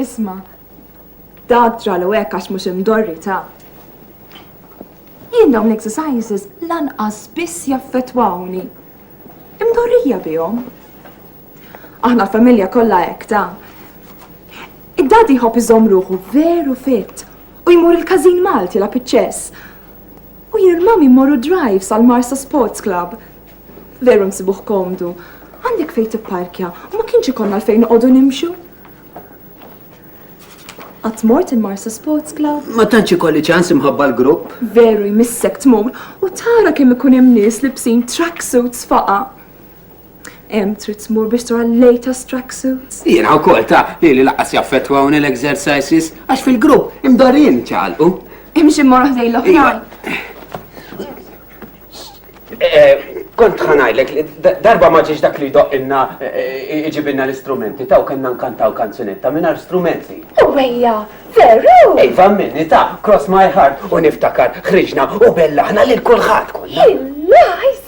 Isma', dak ġralu hekk għax mhux imdorri ta'. Jien dawn l-exercises lanqas biss jaffettwawni. Imdorrija bihom. Aħna l-familja kollha hekk ta'. Id-dadi jħobb iżomm ruħu veru fit u jmur il-każin Malti la piċċess. U jien il-mami mmorru drive sal-Marsa Sports Club. Veru nsibuh komdu. Għandek fejn tipparkja u ma kienx ikollna għalfejn noqogħdu nimxu. Qatt mort il-Marsa Sports Club? Ma tantx ikolli ċans imħabba l-grupp. Veru jmissek tmur u tara kemm ikun hemm nies libsin tracksuits faqa. Hemm trid tmur biex tura l-latest tracksuits. Jiena wkoll ta' li li laqas jaffettwawni l-exercises għax fil-grupp imdorrin ċalqu. Imxi mmorru ħdej l-oħrajn. Iva. Eh, kont ħanajlek, darba ma ġiex dak li doqqinna eh, iġibinna l-istrumenti, taw kena nkantaw kanzunetta minar strumenti. U għeja, veru! Iva minni ta' cross my heart u niftakar ħriġna u bellaħna lil kulħadd kollha. Illajs!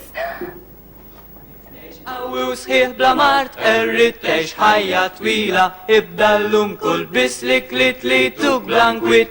Għawu sħiħ bla mart, errit tex ħajja twila, ibda l-lum kull bislik li tlitu blankwit,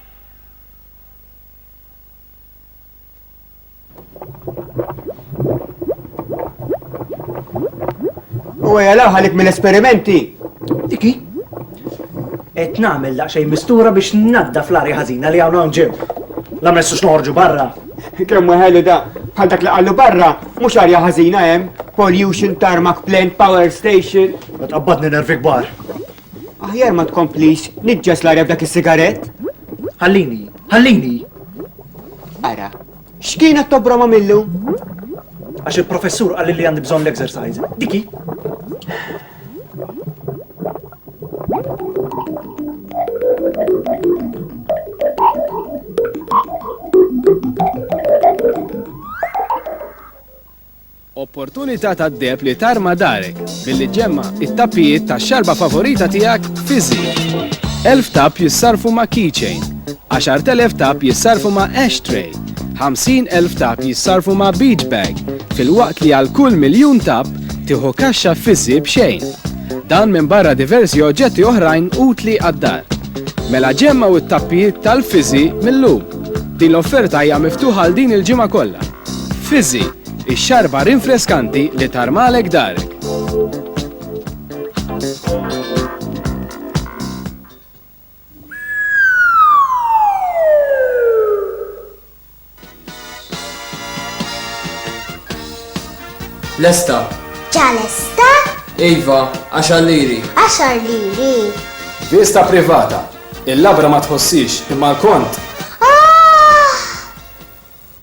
U għajala ħalik mill-esperimenti. Diki? Et namel daqxej mistura biex nadda fl-arja ħazina li għawna nġib. La messu xnorġu barra. Kemm ħelu da, bħal dak li għallu barra, mux arja ħazina hemm, pollution, tarmac plant, power station. Ma tqabbadni nervi kbar. Aħjar ma tkomplix niġġes l-arja b'dak is-sigarett. Ħallini, ħallini! Ara, x'kienet tobroma millu? Għax il-professur qal li għandi bżonn l-exercise. Diki. Opportunità tad-deheb li tarma darek billi ġġemma' t-tappijiet tax-xarba favorita tiegħek fi żied. Elf tapp jissarrfu ma' Keychain. Għaxart elef tapp jissarrfu ma' Ashtray. Ħamsin elf tapp jissarrfu ma' Beachbag, filwaqt li għal kull miljun tapp tieħu kaxxa fi żied b'xejn. Dan minbarra diversi oġġetti oħrajn utli għad-dar. Mela ġemmgħu t-tappijiet tal-fi żied mil-lum. Din l-offerta hija miftuħa għal din il-ġimgħa kollha. Fizzi, ix-xarba rinfreskanti li tarmalek darek. Lesta. Ġalesta? Iva, għaxar liri. Għaxar liri. Vista privata. Il-labra ma tħossix imma l-kont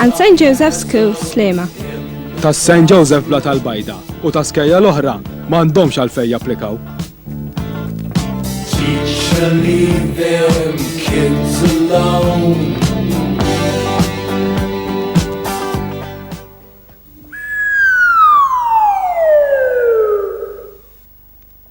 And St. Joseph School, Slema. Ta' St. Joseph Bla tal-Bajda u ta' skejja l-oħra m'għandhomx għalfej japplikaw. Teacher, leave them kids alone.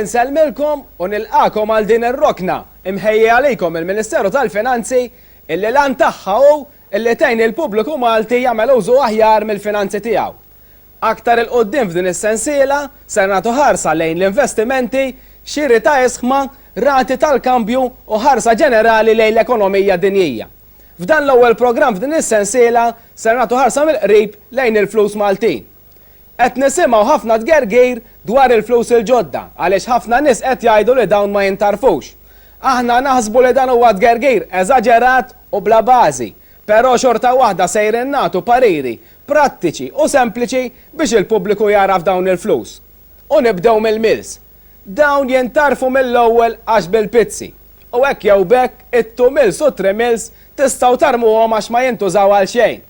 Inselmilkom u nilqakom għal din ir-rokna imħejja għalikom il-Ministeru tal-Finanzi illi lan tagħha hu illi tgħin il-pubbliku Malti jagħmel użu aħjar mill-finanzi tiegħu. Aktar 'il quddiem f'din is-sensiela ser nagħtu ħarsa lejn l-investimenti, xiri ta' isħma, rati tal-kambju u ħarsa ġenerali lejn l-ekonomija dinjija. F'dan l-ewwel programm f'din is-sensiela ser nagħtu ħarsa mill-qrib lejn il-flus Maltin. Qed nisimgħu ħafna tgergir dwar il-flus il-ġodda għaliex ħafna nies qed jgħidu li dawn ma jintarfux. Aħna naħsbu li dan huwa tgergir eżaġerat u bla bażi, però xorta waħda sejrin nagħtu pariri prattiċi u sempliċi biex il-pubbliku jagħraf dawn il-flus. U nibdew mill-mills. Dawn jintarfu mill-ewwel għax bil-pizzi. U hekk jew b'hekk it-two mills u t-three mills tistgħu tarmuhom għax ma jintużaw għal xejn.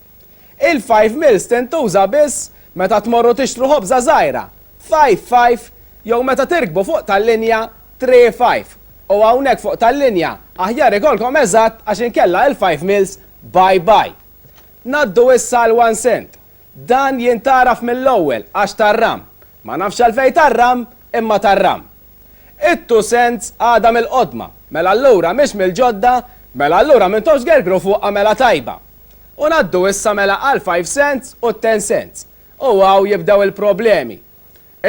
Il-five mills tintuża biss meta tmorru tixtru ħobża żgħira, five five, jew meta tirkbu fuq tal-linja, three five. U hawnhekk fuq tal-linja aħjar ikollkom eżatt għax inkella il-five mills bye bye. Ngħaddu issa għal one cent. Dan jintgħaraf mill-ewwel għax tar-ram. Ma nafx għalfejn tar-ram, imma tar-ram. It-two cents għadha mill-qodma, mela allura mhix mill-ġodda, mela allura m'intomx tgergru fuqha mela tajba. U ngħaddu issa mela għall-five cents u t-ten cents. U hawn jibdew il-problemi.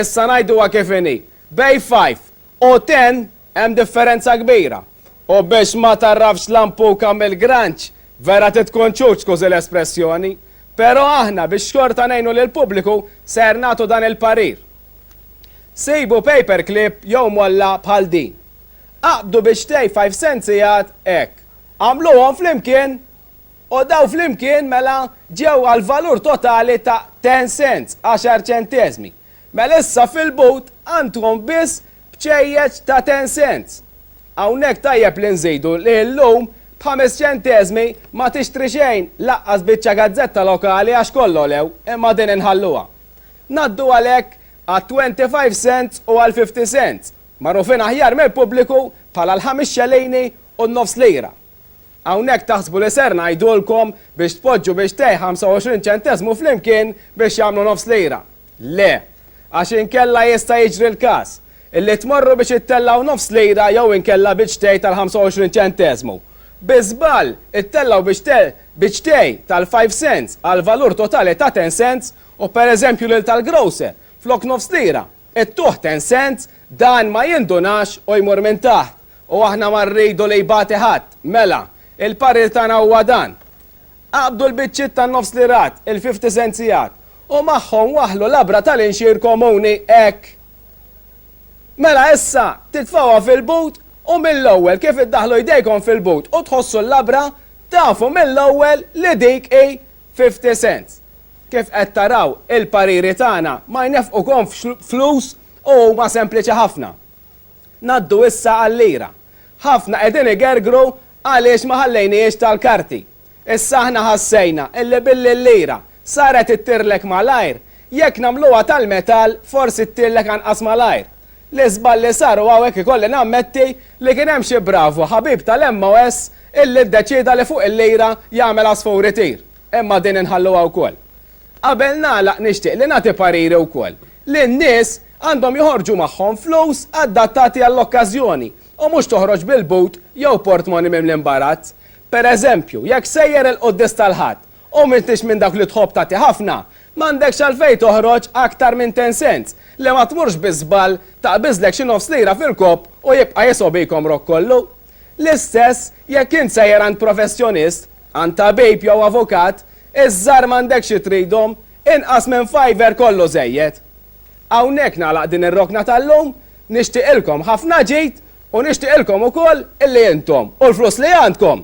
Issa ngħiduha kif inhi. Bejn five u ten hemm differenza kbira. U biex ma tgħarrafx lampuka mill-granċ, vera trid tkun ċuċ skużi l-espressjoni. Però aħna biex xorta ngħinu lill-pubbliku ser nagħtu dan il-parir. Sibu paper clip jew molla bħal din. Aqbdu biex tgħid five cents sigħat hekk. Agħmluhom flimkien U dawn flimkien mela ġew għall-valur totali ta' ten cents, għaxar ċenteżmi. Mela issa fil-but għandkom biss bċejjeċ ta' ten cents. Hawnhekk tajjeb li nżidu li llum b'ħames ċenteżmi ma tixtri xejn lanqas biċċa gazzetta lokali għax kollha għolew imma din inħalluha. Ngħaddu għalhekk għat-twenty five cents u għall-fifty cents, magħrufin aħjar mill-pubbliku bħala l-ħames xelejni u n-nofs lira. Hawnhekk taħsbu li ser ngħidulkom biex tpoġġu bixtejh 25 ċenteżmu flimkien biex jagħmlu nofs lira. Le. Għax inkella jista' jiġri l-każ. Illi tmorru biex ittellgħu nofs lira jew inkella biċtej tal-25 ċenteżmu. Bi żball, ittellgħu biċtej biċtej tal-five cents għall-valur totali ta' ten cents u pereżempju lil tal-grocer, flok nofs lira, It-tuħ ten cents, dan ma jindunax u jmur minn taħt. U aħna ma rridu li jbati ħadd. Mela, il-parir tagħna huwa dan. Aqbdu l-biċċiet tan-nofs lirat, il-fifty centsiat, u magħhom waħħlu labra tal-inxier komuni, hekk. Mela issa, titfgħuha fil-but u mill-ewwel kif iddaħħlu jdejkom fil-but u tħossu l-labra, tafu mill-ewwel li dik hi Fifty Cent, Kif qed taraw, il-pariri tagħna ma jnefqukomx f'flus u huma sempliċi ħafna. Ngħaddu issa għal-lira. Ħafna qegħdin igergru għaliex ma ħallejnihiex tal-karti. Issa aħna ħassejna illi billi l-lira saret ittirlek malajr, jekk nagħmluha tal-metall forsi ttirlek anqas malajr. L-iżball li sar u hawnhekk ikolli nammetti li kien hemm xi bravu ħabib tal-MOS illi ddeċieda li fuq il-lira jagħmel għasfur itir. Imma din inħalluha wkoll. Qabel nagħlaq nixtieq li nagħti pariri wkoll li n-nies għandhom joħorġu magħhom flus adattati għall-okkażjoni u mhux toħroġ bil-but jew portmoni mimli imbarazz. Pereżempju, jekk sejjer il-Quddis tal-Ħadd U m'intix minn dawk li tħobb tagħti ħafna, m'għandekx għalfejn toħroġ aktar minn ten cents, li ma tmurx bi żball taqbiżlek xi nofs lira fil-kopp u jibqa' jisob jkomrok kollu. L-istess jekk int sejjer għand professjonist, għand tabib jew avukat, iż-żgħar m'għandekx xi tridhom, inqas minn fiver kollu żejjed. Hawnhekk nagħlaq din ir-rokna tal-lum, nixtieqilkom ħafna ġid u nixtieqilkom ukoll illi intom u l-flus li għandkom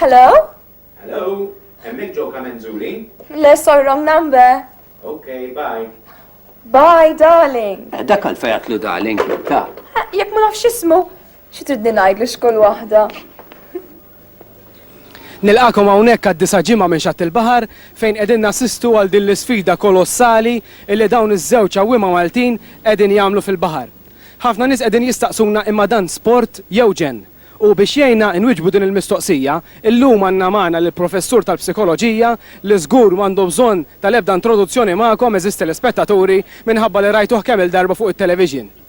Hello? Hello? Hemmhekk ġew kamenzuri? Le sor wrong number. Okay, bye. Bye, darling. Eh, dak għal fejat lu darling, ta. Eh, Jek ma nafx ismu, xi tridni ngħidlu x'kull waħda. Nilqagħkom hawnhekk għad-disa' ġimgħa minn Xatt il-Baħar fejn qegħdin nassistu għal din l-isfida kolossali illi dawn iż-żewġ għawwiema Maltin qegħdin jagħmlu fil-baħar. Ħafna nies qegħdin jistaqsuna imma dan sport jew ġenn? U biex jgħinna inwiġbu din il-mistoqsija, illum għandna magħna lill-Professur tal-Psikoloġija li żgur m'għandu bżonn tal-ebda introduzzjoni magħkom għeżież telespettaturi minħabba li rajtuh kemm-il darba fuq it-television.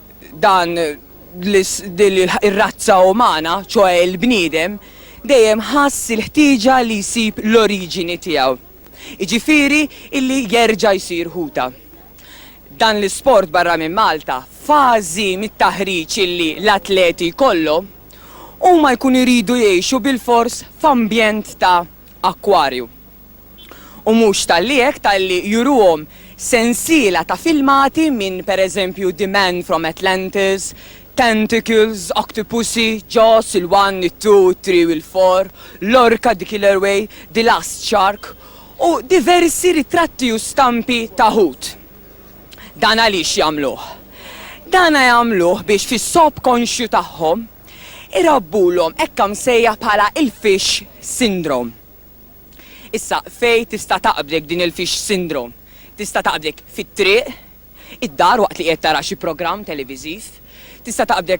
dan ir-razza umana, ċoħe il-bniedem, dejjem ħass il-ħtieġa li jsib l-oriġini tiegħu, jiġifieri illi jerġa' jsir ħuta. Dan l-isport barra minn Malta, fażi mit-taħriġ illi l-atleti jkollhom, huma jkunu jridu jgħixu bilfors f'ambjent ta' akkwarju. U mhux talli hekk, talli juruhom sensiela ta' filmati minn, pereżempju, The Man from Atlantis, Tentacles, Octopussy, Jaws, il-One, it-Two, it-Three u l-Four, Lorca, The Killer Whale, The Last Shark, u diversi ritratti u stampi ta' ħut. Dan għaliex jagħmluh? Dana jagħmluh biex fis-subkonxju tagħhom irabbulhom hekk msejjaħ bħala il-fish syndrome. Issa, fejn tista' taqbdek din il-fish syndrome? Tista' taqbdek fit-triq, id-dar waqt li qiegħed tara xi programm televiżiv, tista' taqbdek